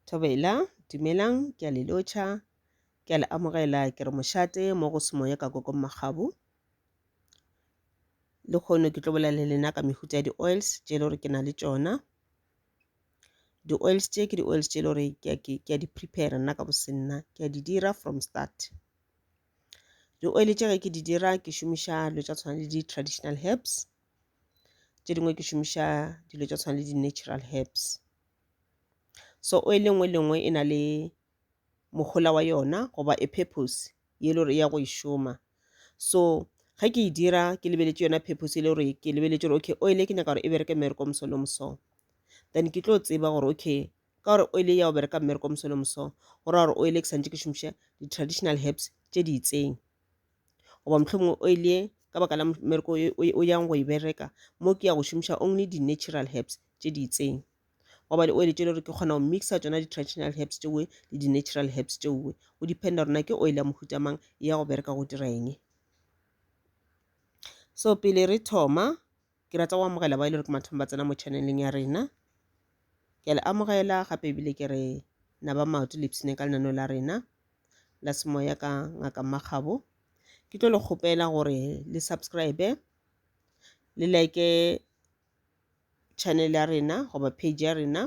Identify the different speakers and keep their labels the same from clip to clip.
Speaker 1: Thobela, dumelang, ke a le lotšha, ke a le amogela, ke re mošate mo go semoya ka kokong magabu. Le kgono ke tlo bolela le lena ka mehuta ya di-oils tše le gore ke na le tšona. Di-oils tše ke di-oils tše le gore ke a, ke, ke a di prepare nna ka bosenna, ke a di dira from start. Di-oil tše ge ke di dira ke šomiša dilo tša tshwana le di-traditional herbs. tše dingwe ke šomiša dilo tša tshwana le di-natural herbs. So oil e nngwe le e nngwe e na le mohola wa yona goba a purpose ye e le gore e ya go e šoma. So ge ke e dira ke lebeletše yona purpose e le gore ke lebeletše gore okay oil e ke nyaka gore e bereke mmereko o moso le o moso then ke tlo tseba gore okay ka gore oil e ya go bereka mmereko o moso le o moso go raya gore oil e ke santše ke šomiša di-traditional herbs tše di itseng. goba mohlomongwe o ile ka baka la mmereko o yang go e bereka mo ke ya go šomiša only di-natural herbs tše di itseng goba di oil tše le gore ke kgona go mixa tsona di-traditional herbs tšeoe le di-natural herbs tšeoe go dependa rona ke oil ya mohuta mang e ya go bereka go dira eng so pele re thoma Ke rata go amogela ba e le gore ke mathomo ba tsena mo channeleng ya rena. Ke a le amogela gape ebile ke re na ba maoto le ipsene ka lenaneo la rena la semoya ka ngaka Makgabo. Ke tlo le kgopela gore le subscribe le like channel ya rena goba page ya rena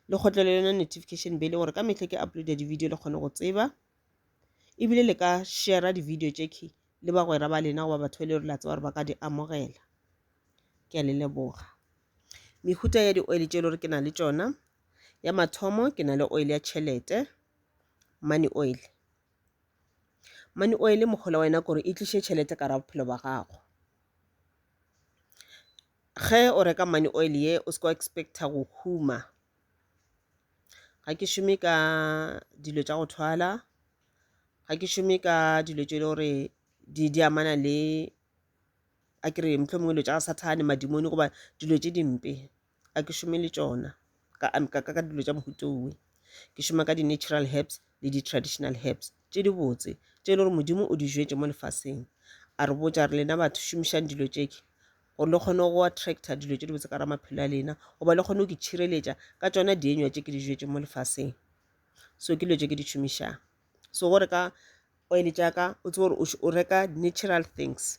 Speaker 1: le kgotlele yona notification bell gore ka mehla ke uploada di-video le kgone go tseba e bile le ka shera di-video tše key le bagwera ba lena goba batho ba le gore la tseba gore ba ka di amogela ke a le leboga mehuta ya di-oil tše e le gore ke na le tšona ya mathomo ke na le oil ya tšhelete money oil money oil mokgola wa yena kore e tliše tšhelete ka ra bophelo ba gago ge o reka money oil ye o se ka expecta go huma ga ke šome ka dilo tša go thwala ga ke šome ka dilo tše e le gore di di amana le a ke re mohlomongwe dilo tša sathane madimoni goba dilo tše dimpe a ke šome le tšona ka, ka, ka, ka dilo tša mohuta owe ke šoma ka di-natural herbs le di-traditional herbs tše di botse tše e le gore modimo o di jwetše mo lefaseng a re botša re lena batho šomišang dilo tšeke gore le kgone go attracta dilo tše di botse ka ra maphelo a lena goba le kgone go ke tšhireletša ka tšona dienywa tše ke di jwetše mo lefaseng so ke dilo tše ke di šomišang so gore ka oil tšaka o tsebe gore o reka natural things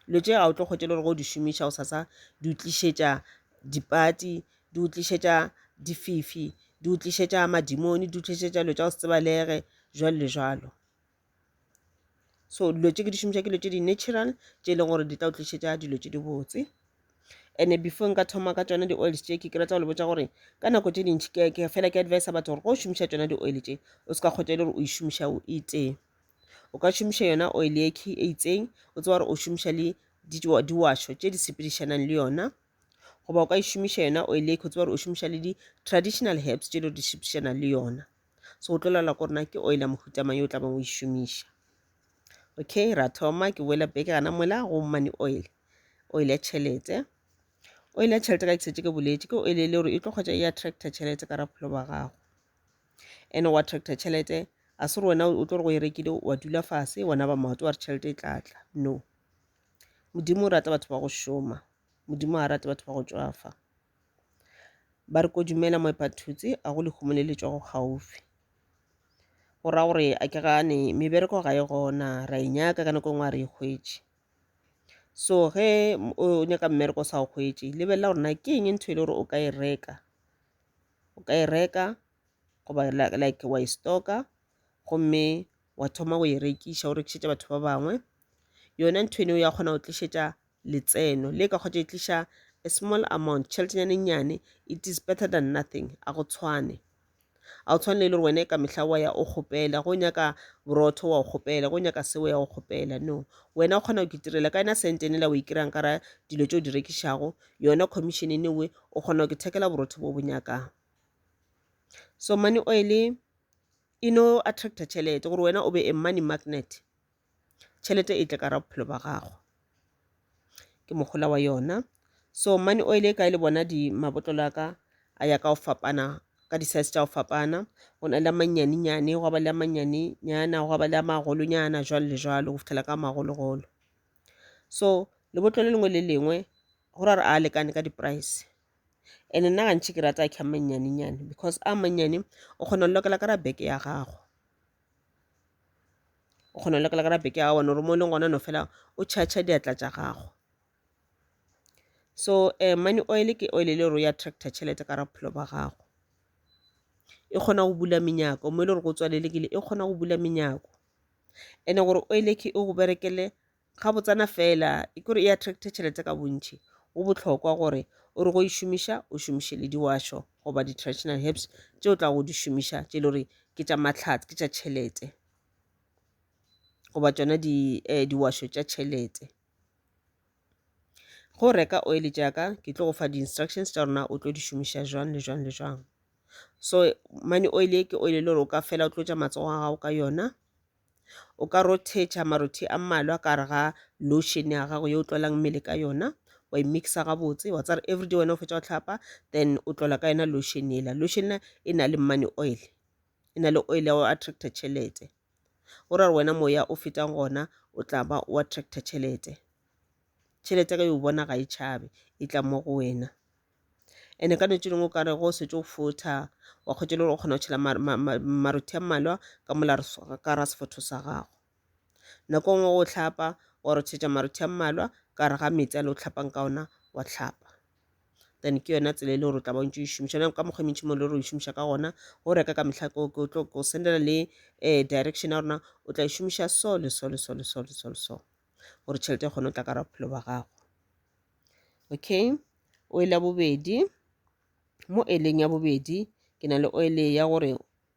Speaker 1: dilo tše ga o tlo kgotše le gore go di šomiša go sasa di utlišetša dipati di utlišetša dififi di utlišetša madimoni di utlišetša dilo tša go se tsebalege jwalo le jwalo so dilo tše ke di šomiša ke dilo tše di-natural tše e leng gore di tla o tlišetša dilo tše di botse and before nka thoma ka tsona di-oils tše ke ke batla go le botsa gore ka nako tše dintšhi ke fela ke advisa batho gore go šomiša tsona di-oil tše o se ka kgotsa e le gore o e šomiša o itee o ka šomiša yona oil e key e itseng o tseba gore o šomiša le diwašo tše di sepedišanang le yona goba o ka e šomiša yona oil e key o tseba gore o šomiša le di-traditional herbs tše di sepedišanang le yona so o tlo laola gore na ke oil ya mohuta mang yo o tlabeng o e šomiša okay ra thoma ke boela beke gana mola go money oil oil ya tšhelete oil ya tšhelete ka ke setse ke boletse ke oil e le gore e tlo kgotsa e attracta tšhelete ka rapholo ba gago and wa attracta tšhelete a se re wena o tlo re go e rekile wa dula fase wona ba maoto wa re tšhelete e tlatla no modimo o rata batho ba go šoma modimo ga rate batho ba go tswafa ba re ko dumela moepathutse a go lehumo le letšwa go gaufi go ra gore a ke gane mebereko ga e gona ra e nyaka ka nako e nngwe a re e hwetše so ge o nyaka mmereko o sa o hwetše lebelela gore na ke eng ntho e le gore o ka e reka o ka e reka goba like wa e stocka gomme wa thoma go e rekiša o rekišetša batho ba bangwe yona ntho eno ya kgona go tlišetša letseno le ka kgotša e tliša a small amount tšheletenyana e nnyane it is better than nothing a go tshwane a o tshwane le gore wena ka mehla wa ya o kgopela go nyaka borotho wa o kgopela go nyaka seo ya o kgopela no wena o kgona go kitirela ka ena sentene la o ikirang kara dilo tse o di rekišago yona commission e newe o kgona go kithekela borotho bo bo nyakang so money oil e no attracta tšhelete gore wena o be a money magnet tšhelete e tle ka ra bophelo ba gago ke mohola wa yona so money oil e kae le bona di mabotlolo a ka a ya ka go fapana ka di-size tša go fapana go na le a mannyanenyane gwa ba le a mannyanenyana gwa ba le a magolonyana jwalo le jwalo go fitlhela ka magologolo so lebotlolo le lengwe le lengwe go ra re a lekane ka di-price and nna gantšhi ke rata a kha mannyanenyane because a mannyane o kgona go lokela ka ra beke ya gago o kgona go lekala ka rape ke a bona gore mo e leng gona no fela o charge diatla tša gago so um money oil ke oil e le gore ya tractor tšhelete ka ra bophelo ba gago e kgona go bula menyako mo e le gore go tswalelekile e kgona go bula menyako ene gore oil ke e go berekele ga botsana fela e kore e attract tšhelete ka bontšhi go bohlokwa gore o re go e šomiša o šomiše le diwašo goba di-traditional herbs tše o tla go di šomiša tše e le gore ke tša matlhatse ke tša tšhelete goba tšona di eh, diwašo tša tšhelete go reka oil jaaka ke tlo go fa di-instructions tša rona o tlo di šomiša jwang le jwang le jwang so mane oil e ke oil e le gore o ka fela o tlotša matsogo a gago ka yona O ka rothetša marothi a mmalwa ka gare ga lotion ya gago yo o tlolang mmele ka yona wa e mixa gabotse wa tsare everyday wena o fetsa go tlhapa then o tlola ka yona lotion ela lotion e na le money oil e na le oil ya go attracta tšhelete o ra gore wena moya o fetang gona o tla ba o attracta tšhelete tšhelete ka yo bona ga e tšhabe e tla mo go wena ene ka netse lengwe o kare go setse o fotha wa kgwetsa le gore o kgona go tšhela marothi a mmalwa ka mola ka ra sefotho sa gago nako nngwe o tlhapa wa rotshetsa marothi a mmalwa ka re ga metsi a le o tlhapang ka ona wa tlhapa then ke yona tsela e le gore o tla ba ntse o šomiša yone ka mokgwa mentšhi mo le gore o šomiša ka gona go reka ka metlha ko sendela le um direction ya rona o tla e šomiša so le so le so le so le so le so gore tšhelete e kgone go tla ka bophelo ba gago okay oil ya bobedi mo oileng ya bobedi ke na le oil ya gore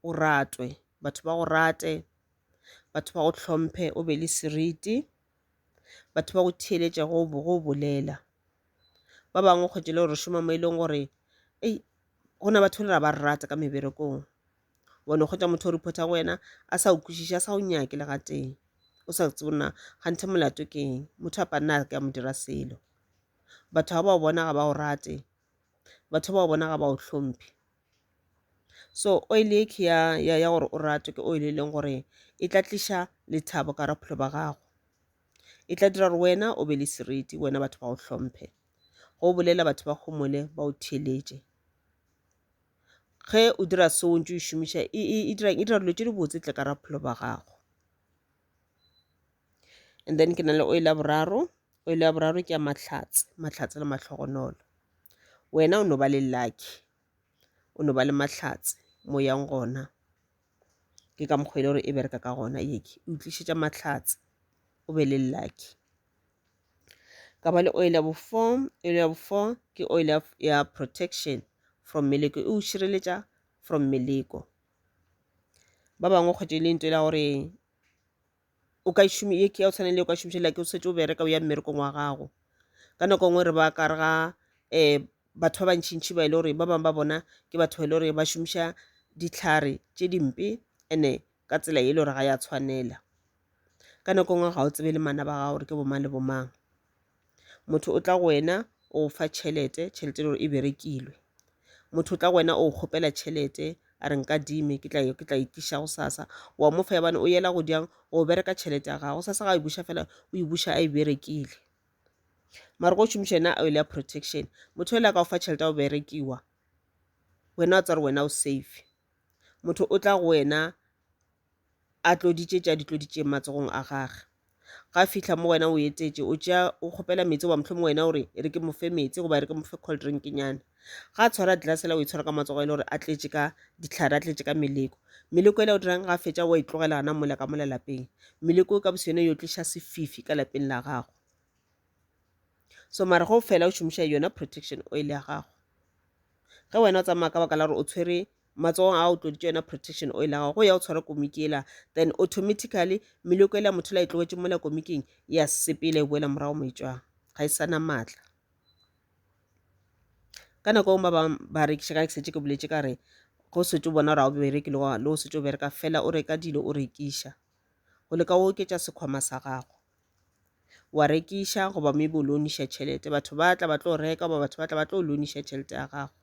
Speaker 1: o ratwe batho ba go rate batho ba go tlhomphe o be le seriti batho ba go theeletša go go bolela ba bangwe kgwetšele gore šoma mo e leng gore ei gona batho le ra ba rata ka meberekong wa no kgwetša motho o reporta go wena a sa o kwešiše a sa o nyake le gatee o sa tsebo na ganthe molato ke eng motho a panna a ka mo dira selo batho ga ba o bona ga ba o rate batho ba o bona ga ba o hlomphe so oil e ke ya, ya, ya gore o ratwe ke oil e leng gore e tla tliša lethabo ka raphelo ba gago e tla dira gore wena o be le seriti wena batho ba o hlomphe go bolela batho ba gomole ba o theeletše ge o dira so o ntse o e šomiša e, e, e dirang e dira dilo tše di botse tle ka ra bophelo ba gago and then ke na le oil ya boraro oil ya boraro ke ya mahlatse mahlatse le mahlogonolo wena o no ba le lucky o no ba le mahlatse mo yang gona ke ka mokgwa e le gore e bereka ka gona yeke e utlišetša mahlatse o be le lucky ka ba le oil ya bofo oil ya bofo ke oil ya protection from meleko e o šireletša from meleko ba bangwe kgwetše e le ntho e la gore o ka šome ye ke ya o tshwana le o ka šomišela ke o setse o bereka o ya mmerekong wa gago ka nako e nngwe re ba ka re ga um batho ba bantšhintšhi ba e le gore ba bangwe ba bona ke batho ba e le gore ba šomiša ditlhare tše dimpe and-e ka tsela ye e le gore ga ya tshwanela ka nako nngwe ga o tsebe le mana ba gago gore ke bomang le bomang motho o tla go wena o fa tšhelete tšhelete e le gore e berekilwe motho o tla go wena o kgopela tšhelete a re nka dime ke tla ke tla itliša go sasa wa mo fa yabane o yela go diang go bereka tšhelete ya gago sasa ga e buša fela o e buša a e berekile mara go šomiša yena oil ya protection motho o le ka go fa tšhelete ya go berekiwa wena o tsare wena o safe Motho o tla go wena a tloditše tša ditloditšeng matsogong a gage. Ga a fihla mo wena o etetše, o tšea o kgopela metsi goba mohlomong wena o re e re ke mo fe metsi goba e re ke mo fe cold drinknyana. Ga a tshwara glass la o e tshwara ka matsogo e le gore a tletše ka dihlare a tletše ka meleko. Meleko e le o dirang ga a fetša wa e tlogela gana mola ka mola lapeng. Meleko ka bosone yo tliša sefifi ka lapeng la gago. so mara go fela o šomiša yona protection oil ya gago ge wena o tsamaya ka baka la gore o tshwere matsogong a o tloditše yona protection oil ya gago go ya o tshwara komiki ela then automatically meloko ela motho la e tlogetse mola komiking ya sepele e boela morago moitšwang ga e sana maatla ka nako e ba bangwe ba rekiša ka ke setse ke boletse ka re go setse o bona gore ga o bereke le go setse o bereka fela o reka dilo o rekiša go leka o oketša sekhwama sa gago wa rekiša goba maybe o loaniša tšhelete batho ba tla ba tlo reka goba batho ba tla ba tlo loaniša tšhelete ya gago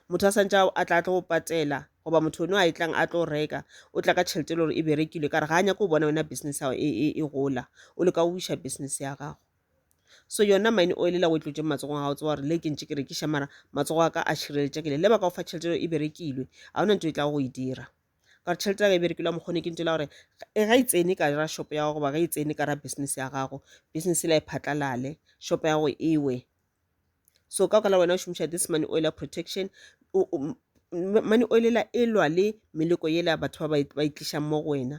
Speaker 1: motho a santse a tla tlo go patela goba motho one a e tlang a tlo reka o tla ka tšhelete e le gore e berekilwe ka re ga a nyako bona wena business ya e, e, e gola o leka go buša business ya gago so yona mine oil la o e tlotšeng matsogong a gago tsewa gore le ke ntše ke rekiša mara matsogo a ka a šireletšegile le ba ka go fa tšhelete e berekilwe ga ona ntho e tla go e dira ka gore tšhelete ya ka e berekile mokgwa ne ke ntšela gore e ga e tsene ka ra shop ya gago goba ga e tsene ka ra business ya gago business la e phatlalale shop ya gago ewe so ka kala wena o šomiša this money oil ya protection money oil la e lwa le meleko yela batho ba ba e tlišang mo go wena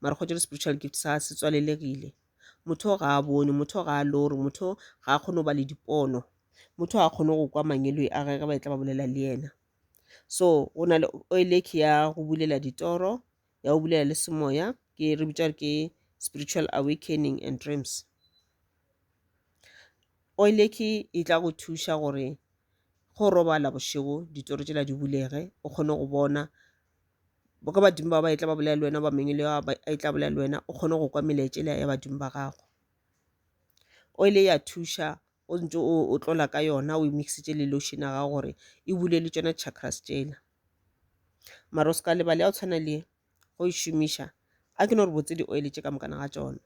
Speaker 1: mara go tšere spiritual gift sa se tswalelegile motho ga a bone motho ga a lore motho ga a kgone go ba le dipono motho ga a kgone go kwa mangeloi a gage ba e tla ba bolela le yena so go na le oeleki ya go bulela ditoro ya go bulela le semoya ke re bitša ke spiritual awakening and dreams oeleki e tla go thuša gore go robala bošego ditoro tšela di bulege o kgone go bona boka badimo ba ba e tla ba bolela le wena ba mengwe le a e tla bolela le wena o kgone go kwa melaetša le ya badimo ba gago oil ya thuša o ntse o tlola ka yona o e mixitše le lotion ya gago gore e bule le tšona chakras tšela mara o se ka lebale ya o tshwana le go e šomiša A ke no re botse di-oil tše ka mokana ga tšona.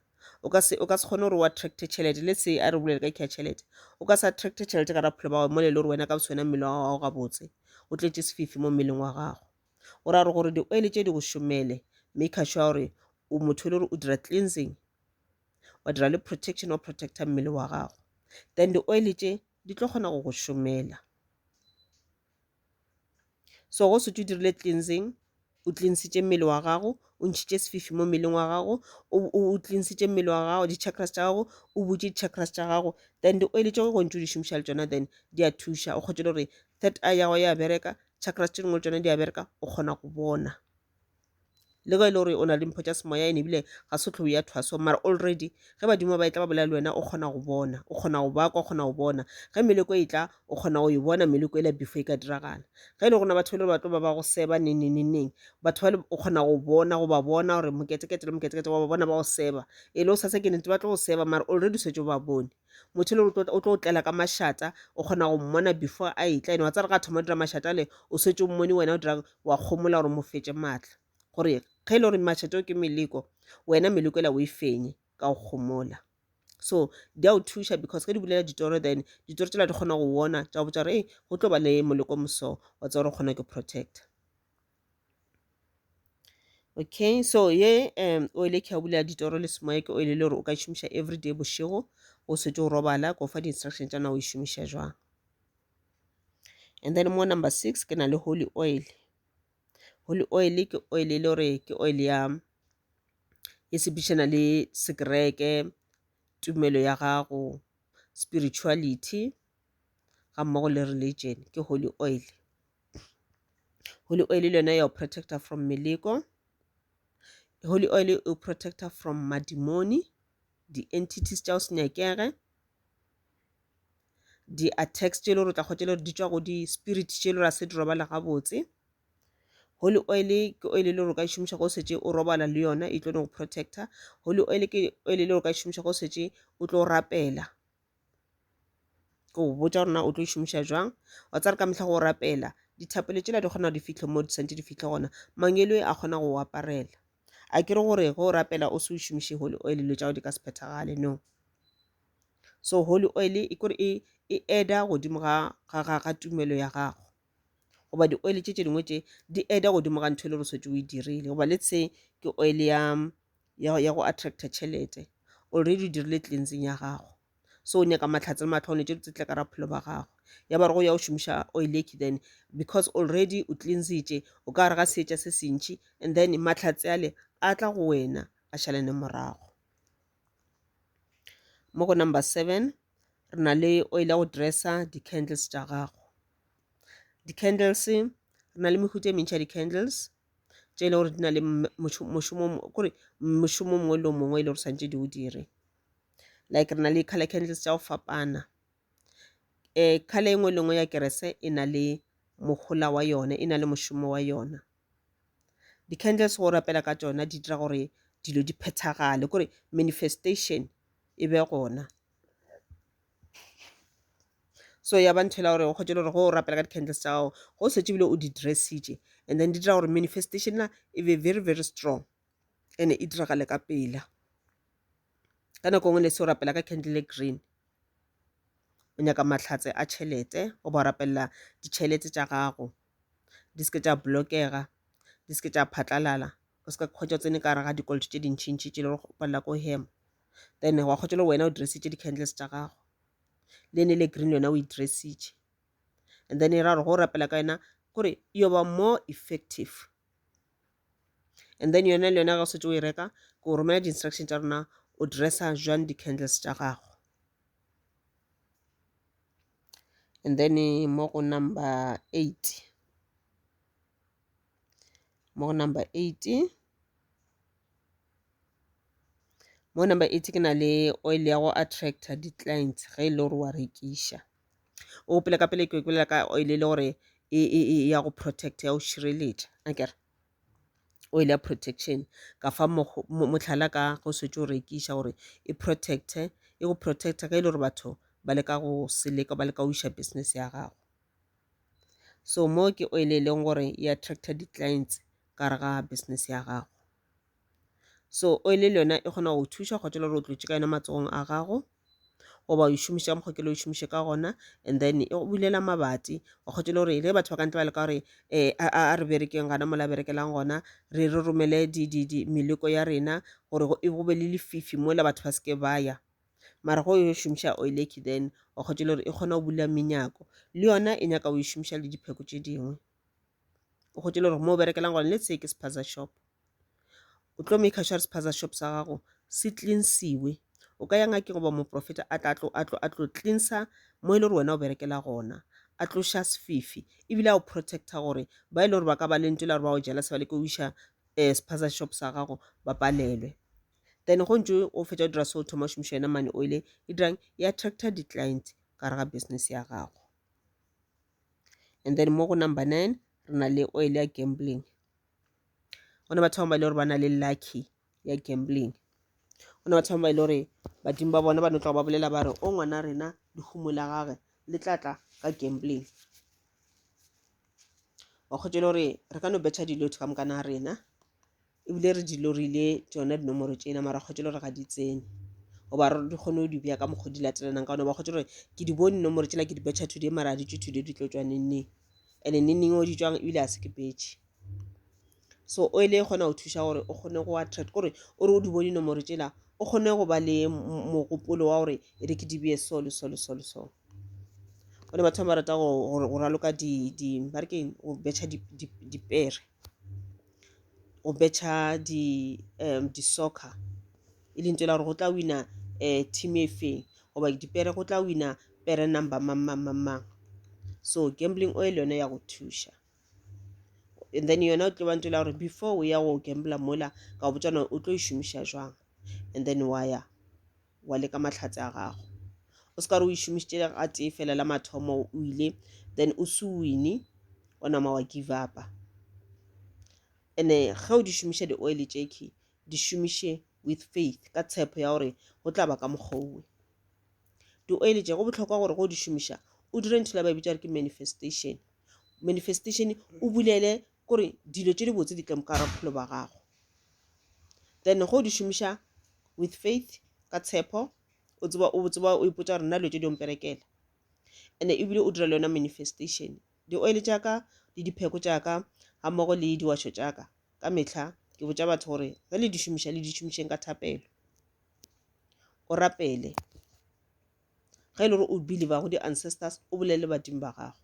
Speaker 1: O ka se, o ka se kgone gore o attracte tšhelete. Let's say a re bolele ka kea tšhelete. O ka se attracte tšhelete ka raphelo ba gago mole e le gore wena ka boswena mmele wa gago gabotse o tletše sefifi mo mmeleng wa gago. O ra re gore di-oil tše di go šomele maker sure gore o motho e le gore o dira cleansing wa dira le protection wa protecta mmele wa gago then di-oil tše di tlo kgona go go šomela. so go setse o dirile cleansing o cleansitše mmele wa gago o ntšhitše sefifi mo mmeleng wa gago o cleansitše mmele wa gago di-chakras tša gago o butše di-chakras tša gago then di-oil tšeo go ntse o di šomiša le tšona then di a thuša o kgotše le gore third eye ya gago ya bereka chakras tše dingwe le tšona di a bereka o kgona go bona le ge e le gore o na le mpho tša semoya ene ebile ga se tlhou ya thwaso mara already ge badimo ba e tla ba bolela le wena o kgona go bona o kgona go bakwa o kgona go bona ge meleko e tla o kgona go e bona meleko e la before e ka diragala ge e le gona batho e le batlo ba ba go seba neneneneng batho ba o kgona go bona go ba bona gore moketekete le moketekete wa ba bona ba go seba e le o sa se ke nete ba tlo go seba mara already o setse o ba bone motho le o tlo tlela ka mašata o kgona go mmona before a etla ene wa tsare ga thoma o dira mašata le o setse o mmone wena o dira wa kgomola gore mo fetše maatla gore ge e le gore mašata o ke meleko wena meleko ela o e fenye ka go kgomola so di a o thuša because ge di bolela ditoro then ditoro tsela di kgona go wona tša go botsa gore ee go tlo ba le moleko moso wa tsa gore o kgona ke protector okay so ye um oil e khabule ya ditoro le semoya ke oil e le gore o ka e šomiša everyday bošego o setse o robala ko fa di-instruction tša na o e šomiša jwang and then mo number six ke na le holy oil holy oil ke oil e le gore ke oil ya e sepedišana le sekereke tumelo ya gago spirituality ga mmogo le religion ke holy oil holy oil le yone ya o protecta from meleko holy oil e protecta from madimoni di-entities tša o se nyakege di-attacks tše e le gore o tla kgwetša le gore di tšwa go di-spirit tše e le gore a se di robala gabotse holy oil ke oil e le gore o ka e šomiša go setse o robala le yona e tlo go protecta holy oil ke oil e le gore o ka e šomiša go setse o tlo rapela ke o botša gore na o tlo e šomiša jwang wa tsare ka mehla go rapela dithapelo tšela di kgona go di fihle mo di santse di fihle gona mangelo a kgona go o aparela a kere gore ge o rapela o se o šomiše holy oil dilo tša go di ka se phethagale no so holy oil e kore e e eda godimo ga ga ga ga tumelo ya gago goba di-oil tše tše dingwe tše di eda godimo ga ntho e le gore o setse o e dirile goba le tse ke oil ya ya, ya go attracta tšhelete already o dirile cleansing ya gago so o nyaka mahlatse le mahlwane tše tse tle ka gare ga bophelo bja gago ya ba re go ya go šomiša oil e then because already o cleansitše o ka gare ga seetša se sentši and then mahlatse ale a tla go wena a šalane morago mo go number seven re na le oil ya go dressa di-candles tša gago di-candles re na le mehuta e mentši ya di-candles tše e le gore di na le mošomo kore mošomo mongwe le mongwe e le gore santse di o dire like re na le color candles tša go fapana um color engwe le ngwe ya kerese e na le mohola wa yone e na le mošomo wa yona di-candles go rapela ka tšona di dira gore dilo di phethagale kore manifestation e be gona. so ya ba ntho e la gore o kgotše le gore go o rapela ka di-candles tša gago go setse bile o di dressitše and then di dira gore manifestation na e be very very strong and e diragale ka pela ka nako ngwe ne se o rapela ka candle e green o nyaka mahlatse a tšhelete o ba o rapelela ditšhelete tša gago di seke tša blokega di seke tša phatlalala o seka kgwetša o tsene ka gare ga dikoloto tše dintšhintšhi tše le gore go palela ko hema then wa kgotsa le wena o dresitše di-candles tša gago le ne le green yona o e dresitše and then e ra gore go rapela ka yona gore yo ba more effective and then yona le yona ga o setse o e reka ke o romela di-instruction tša rona o dressa jwang di-candles tša gago and then mo go number eight mo go number eight mo number eight ke na le oil ya go attractor di-clients ge e le gore wa rekiša o gopele ka pele ke bolela ka oil e le gore e, e, e ya go protect ya go šireletša akere oil ya protection ka fa mohlala ka go setse o rekiša gore e protecte e go protecta ge e le gore batho ba leka go seleka ba leka go iša business ya gago So mo ke oil e leng gore e attracta di-clients gare ga business ya gago. So oil le yona e kgona go thuša kgotsa le gore o tlotše ka yona matsogong a gago, goba o e šomiša ka mokgwa o kile o e šomiše ka gona, and then e go bulela mabati. Wa kgotša le gore le batho ba ka ntle ba leka gore a re berekeng gona mo la berekelang gona, re romele meleko ya rena gore go be le lefifi mola batho ba seke ba ya. mara go yo šomiša oileki then o kgotše le gore e kgona go bula menyako le yona e nyaka o e šomiša le dipheko tše dingwe o kgotše le gore mo o berekelang gone le tseye ke sephaza shop o tlo make sure sephaza shop sa gago se cleansiwe o ka ya ngakeng goba moprofeta a tla tlo a tlo a tlo cleansa mo e le gore wena o berekela gona a tloša sefifi ebile a o protecta gore ba e le gore ba ka ba lentso la gore ba o jela se ba le ko o iša um sephaza shop sa gago ba palelwe then go ntse o fetsa dira so thoma šomiša yona money oil e dirang e attracta di-client ka re ga business ya gago and then mo go number nine re na le oil ya gambling go ne batho ba e le gore ba na le lucky ya gambling go ne batho ba e le gore badimo ba bona ba no tloga ba bolela ba re o ngwana rena lehumo la gage le tla tla ka gambling wa kgotse le gore re ka no betšha dilotho ka mokana rena ebile re di lorile tsona dinomoro tsena mara kgotse le gore ga di tsene goba re di kgone go di bja ka mokgwa di latelanang ka one ba kgotse gore ke di bone nomoro tsela ke di betšha today mara a di tswe today di tlo tswa nengneng and-e nengneng o di tswang ebile a se ke betšhe so o ele e kgona go thuša gore o kgone go attract kore o re o di bone nomoro tsela o kgone go ba le mogopolo wa gore e re ke di beye so le so le so le so one batho ba rata go raloka di ba re keng go betšha dipere go betšha di um di-soccer e leng tsela gore go tla wina um team e feng goba dipere go tla wina pere number mang mang mang mang so gambling oil yone ya go thuša and then yona o tlo ba ntela gore before o ya go gambler mola ka go botšana o tlo e šomiša jwang and then wa ya wa le ka mahlatse a gago o se ka re o išomišitše le ga tee fela la mathomo o ile then o se wine o nama wa give upa ene ge o di šomiša di-oil tšeki di šomiše with faith ka tshepo ya gore go tla ba ka mokgowe di-oil tše go bohlokwa gore go di šomiša o dire ntho la ba bitša gore ke manifestation manifestation o bulele kore dilo tše di botse di tle mo ka gara bophelo ba gago then go di šomiša with faith ka tshepo o tseba o tseba o ipotsa gore nna dilo tše di omperekela and-e ebile o dira le yona manifestation di-oil tša ka le dipheko tša ka ga mmogo le diwašo tša ka ka mehla ke botša batho gore ge le di šomiša le di šomišeng ka thapelo o rapele ge e le gore o believer go di-ancestors o bolele badimo ba gago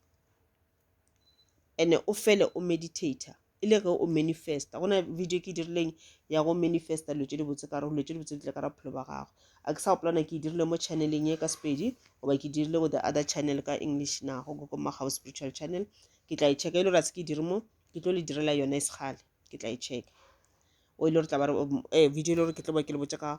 Speaker 1: and o fele o meditator e le ge o manifesta go na video ke e dirileng ya go manifesta dilo tse di botse kare dilo tse di botse di tle ka ra bophelo ba gago a ke sa gopolana ke e dirile mo channeleng e ka sepedi goba ke dirile go the other channel ka english na go go magago spiritual channel ke tla e checka e le gore a se ke e dire mo ke tlo le direla yone e segale ke tla e checka o e le gore tla ba re um, eh, video e le gore ke tlo ba ke le botse ka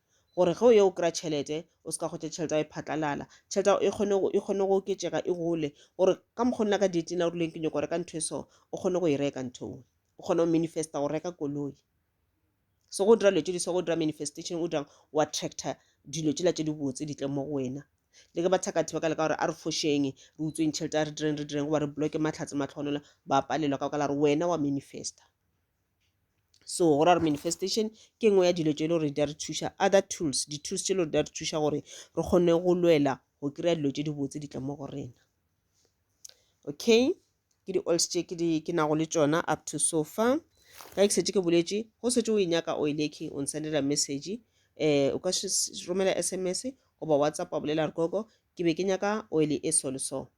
Speaker 1: gore ge o ye o kry-a tšhelete o se ka gotla tšhelete ao e phatlalala tšhelete ao e kgone go e kgone go oketšega e gole gore ka mokgwa nna ka date na o rileng ke nyoko reka ntho e so o kgone go e reka ntho o o kgone go manifesta go reka koloi so go dira dilo tse di so go dira manifestation o dirang o attracta dilo tsela tse di botse di tle mo go wena le ke ba thakathe ba ka leka gore a re fošeng re utsweng tšhelete a re direng re direng goba re bloke matlhatse matlhogonola ba palelwa ka baka la gore wena wa manifesta so go ra gore manifestation ke nngwe ya dilo tše e le gore di a re thuša other tools di-tools tše e le gore di a re thuša gore re kgone go lwela go kry-a dilo tše di botse di tla mo go rena okay ke di-oils tše ke di ke nago le tšona up to so far ka ke setse ke boletše go setse o e nyaka oil e king o nsendela message um o ka romela sms goba whatsapp wa bolela re koko ke be ke nyaka oil e so le so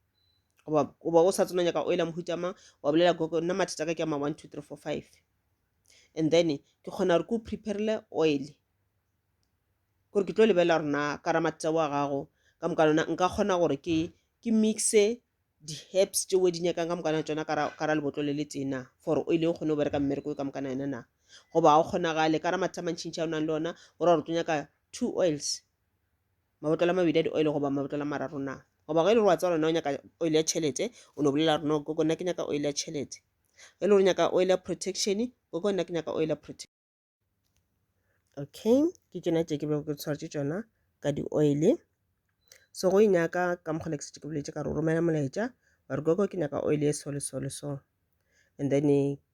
Speaker 1: goba goba o sa tsena nyaka oil a mohuta mang wa bolela gogo nna mathata ka ke ama one two three four five and then ke kgona gore ke o preparele oil gore ke tlo lebelela gore na ka ra mathata wa gago ka moka lona nka kgona gore ke ke mixe di-herbs tšeo di nyakang ka mokana tsona ka ra lebotlo le le tena for oil o kgone go bereka mmereko ka mokana yona na goba ga o kgonagale ka ra mathata mantšhintšha o nang le ona o ra gore o tlo nyaka two oils mabotlolo a mabedi a di-oil goba mabotlolo a mararo na goba ge e le gore wa tseba lona o nyaka oil ya tšhelete o no bolela gore no koko nna ke nyaka oil ya tšhelete ge e le gore nyaka oil ya protection koko nna ke nyaka oil ya protection okay ke tšona tše ke bego ke tshwaretše tšona ka di-oil so go e nyaka ka mokgwa le ke setse ke boletse ka re o romela molaetša wa re koko ke nyaka oil e so le so le so and then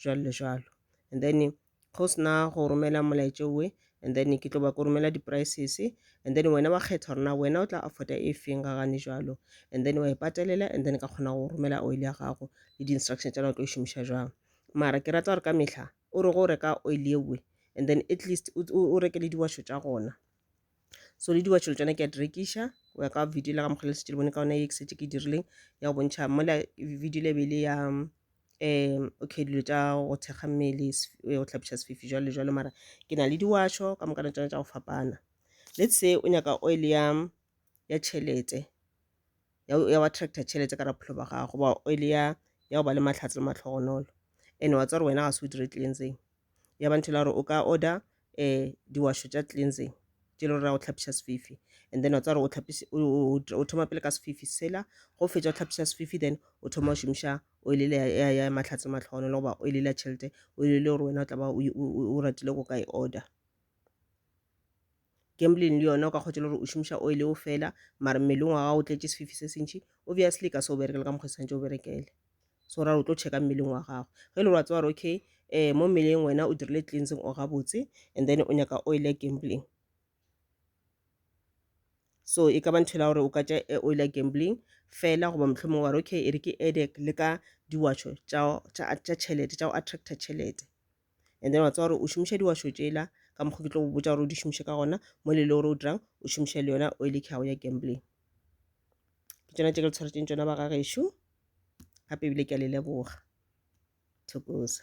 Speaker 1: jwalo le jwalo and then go sena go romela molaetša owe and then ke tlo ba ko romela di-prices and then wena wa kgetha gore na wena o tla afforda e feng ga gane jwalo and then wa e patelela and then ka kgona go romela oil ya gago le di-instruction tša na o tlo e šomiša jwang mara ke rata gore ka mehla o re go reka oil ewe and then at least o reke le diwasho tša gona so le diwatšhelo tsone ke a di rekiša go ya ka video la ga mokgwa le setse le bone ka ona e ke setse ke dirileng ya go bontšha mola video le bele ya um okay dilo tša go thekga mmele go tlhapiša sefifi jalo le jalo mara ke na le diwašo ka moka na tsone tša go fapana let's say o nyaka oil ya ya tšhelete ya wa tractor tšhelete ka raphelo ba gago ba oil ya ya go ba le mahlatse le matlhogonolo and wa tswa re wena ga se o dire tlileng tseng ya ba ntho la gore o ka order um diwašo tša cleansing tše le gore o tlhapiša sefifi and then wa tswa gore o thoma pele ka sefifi sela go fetša o tlhapiša sefifi then o thoma o šomiša oil le ya mahlatse matlhono le goba oil la tšhelete oil le gore wena o tla ba o ratile go ka e order Gambling le yona o ka kgotšela gore o šomiša oil eo fela mara mmeleng wa gago o tletše sefifi se sentši obviously ka se o berekela ka mokgwa santse o berekele so ra o tlo checka mmeleng wa gago ge e le gore wa tseba gore okay eh mo mmeleng wena o dirile cleansing o gabotse and then o nyaka oil ya gambling so e ka ba ntho la gore o ka tša eh, oil ya gambling fela goba mohlomong wa re okay e re ke edek le ka diwatšho tša tšhelete tša go attracta tšhelete and then wa tseba gore o šomiša diwašo tšela ka mokgwa ke tlo go botsa gore o di šomiše ka gona mo le le gore o dirang o šomiše le yona oil ke gago ya gambling ke tsona tse ke le tshwaretseng tsona ba gagešo gape ebile ke a le leboga thokoza